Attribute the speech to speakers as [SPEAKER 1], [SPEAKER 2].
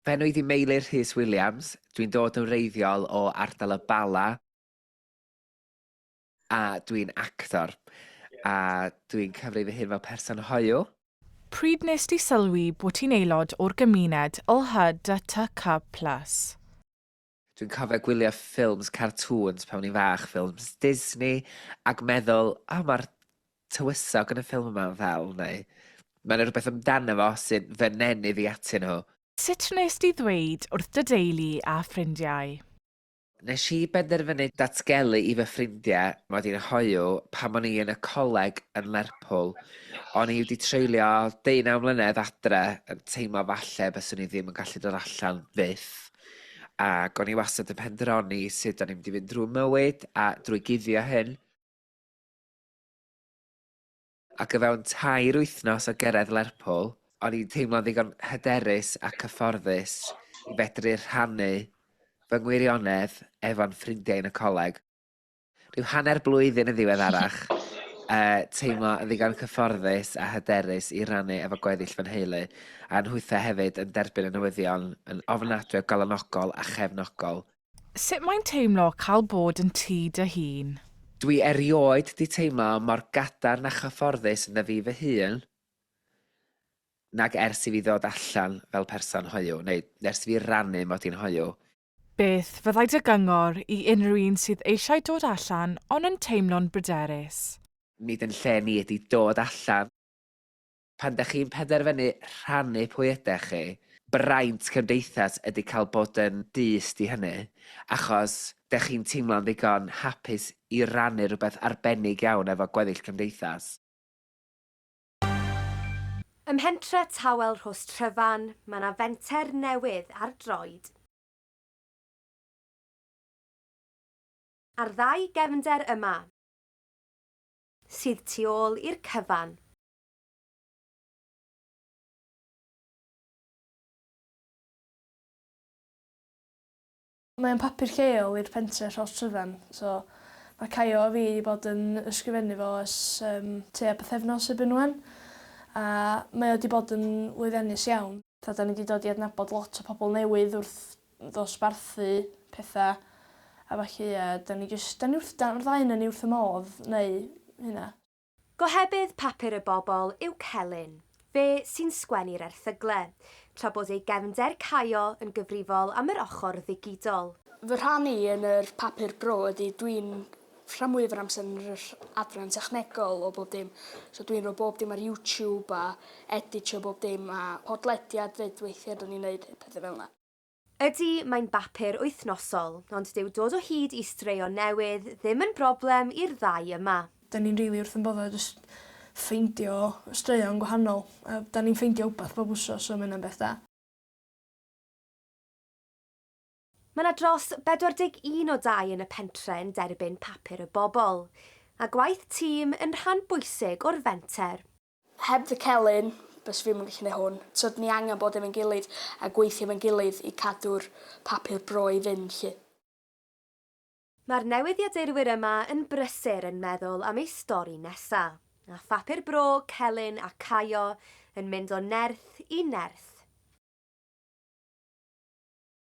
[SPEAKER 1] Bennwydd i Meilir Rhys Williams, dwi'n dod yn wreiddiol o ardal y Bala a dwi'n actor a dwi'n cyfri fy hun fel person hoyw. Pryd wnest
[SPEAKER 2] ti sylwi bod ti'n aelod o'r gymuned LHDTQ plus?
[SPEAKER 1] Dwi'n cofio gwylio ffilms cartŵns pan o'n i'n fach, ffilms Disney, ac meddwl, oh, mae'r tywysog yn y ffilm yma'n ddel, neu mae yna rhywbeth amdano fo sy'n fy nenu fi atyn nhw. Sut wnes di
[SPEAKER 2] ddweud wrth dy deulu a ffrindiau? Nes
[SPEAKER 1] i benderfynu datgelu i fy ffrindiau mod i'n hoyw pan o'n i yn y coleg yn Lerpwl. O'n i wedi treulio deunaw mlynedd adre yn teimlo falle byswn i ddim yn gallu dod allan fyth. Ac o'n i wastad yn penderfynu sut o'n i'n mynd i fynd drwy mywyd a drwy guddio hyn. Ac o fewn tair wythnos o gyrraedd Lerpwl, o'n i'n teimlo'n ddigon hyderus a cyfforddus i fedru rhannu fy ngwirionedd efo'n ffrindiau yn y coleg. Rhyw hanner blwyddyn yn ddiweddarach, uh, teimlo yn ddigon cyfforddus a hyderus i rannu efo gweddill fy nheulu, a'n nhwythau hefyd yn derbyn y newyddion yn ofnadwy o galonogol a chefnogol. Sut mae'n
[SPEAKER 2] teimlo cael bod yn ti dy hun? Dwi erioed
[SPEAKER 1] di teimlo mor gadarn a chyfforddus ynddo fi fy hun nag ers i fi ddod allan fel person hoyw, neu ers i fi rannu mod i'n hoyw. Beth
[SPEAKER 2] fyddai dy gyngor i unrhyw un sydd eisiau dod allan ond yn teimlo'n bryderus? Nid yn lle
[SPEAKER 1] ni ydi dod allan. Pan dach chi'n penderfynu rhannu pwy ydach chi, braint cymdeithas ydi cael bod yn dyst i hynny, achos dych chi'n teimlo'n ddigon hapus i rannu rhywbeth arbennig iawn efo gweddill cymdeithas.
[SPEAKER 3] Ym mhentre Tawel Rhostryfan mae yna fenter newydd ar droed. Ar ddau gefnder yma, sydd tu ôl i'r cyfan.
[SPEAKER 4] Mae o'n papur lleol i'r pentre Rhos Tryfan, so mae Caio a fi 'di bod yn ysgrifennu fo ers yym tua pythefnos erbyn ŵan, a mae o 'di bod yn lwyddiannus iawn. Tibod 'dan ni 'di dod i adnabod lot o pobl newydd wrth ddosbarthu petha a ballu a 'dan ni jyst 'dan ni wrth 'dan yr ddau onan ni wrth y modd neu hynna. Gohebydd
[SPEAKER 3] papur y bobl yw Celyn, fe sy'n sgwennu'r erthygle, tra bod ei gefnder Caio yn gyfrifol am yr ochr ddigidol. Fy rhan i
[SPEAKER 4] yn yr papur bro ydy dwi'n rhan mwyaf yr amser yn yr adran technegol o bob dim, so dwi'n rhoi bob dim ar YouTube a editio bob dim a podlediad 'fyd weithiau 'dyn ni'n neud petha fel 'na. Ydy, mae'n
[SPEAKER 3] bapur wythnosol, ond dyw dod o hyd i straeon newydd ddim yn broblem i'r ddau yma. Dan ni'n rili wrth ein
[SPEAKER 4] boddau jyst ffeindio straeon gwahanol. Yy, dan ni'n ffeindio wbath bob wsos so ma' hynna'n beth da.
[SPEAKER 3] Mae 'na dros 41 o dai yn y pentre yn derbyn Papur y Bobl, a gwaith tîm yn rhan bwysig o'r fenter. Heb dy
[SPEAKER 4] celyn, byswn i'm yn gallu neud hwn. T'od, ni angen bod efo'n gilydd a gweithio efo'n gilydd i cadw'r papur bro i fynd 'lly.
[SPEAKER 3] Mae'r newyddiadurwyr yma yn brysur yn meddwl am eu stori nesa', a phapur bro, celyn a caio yn mynd o nerth i nerth.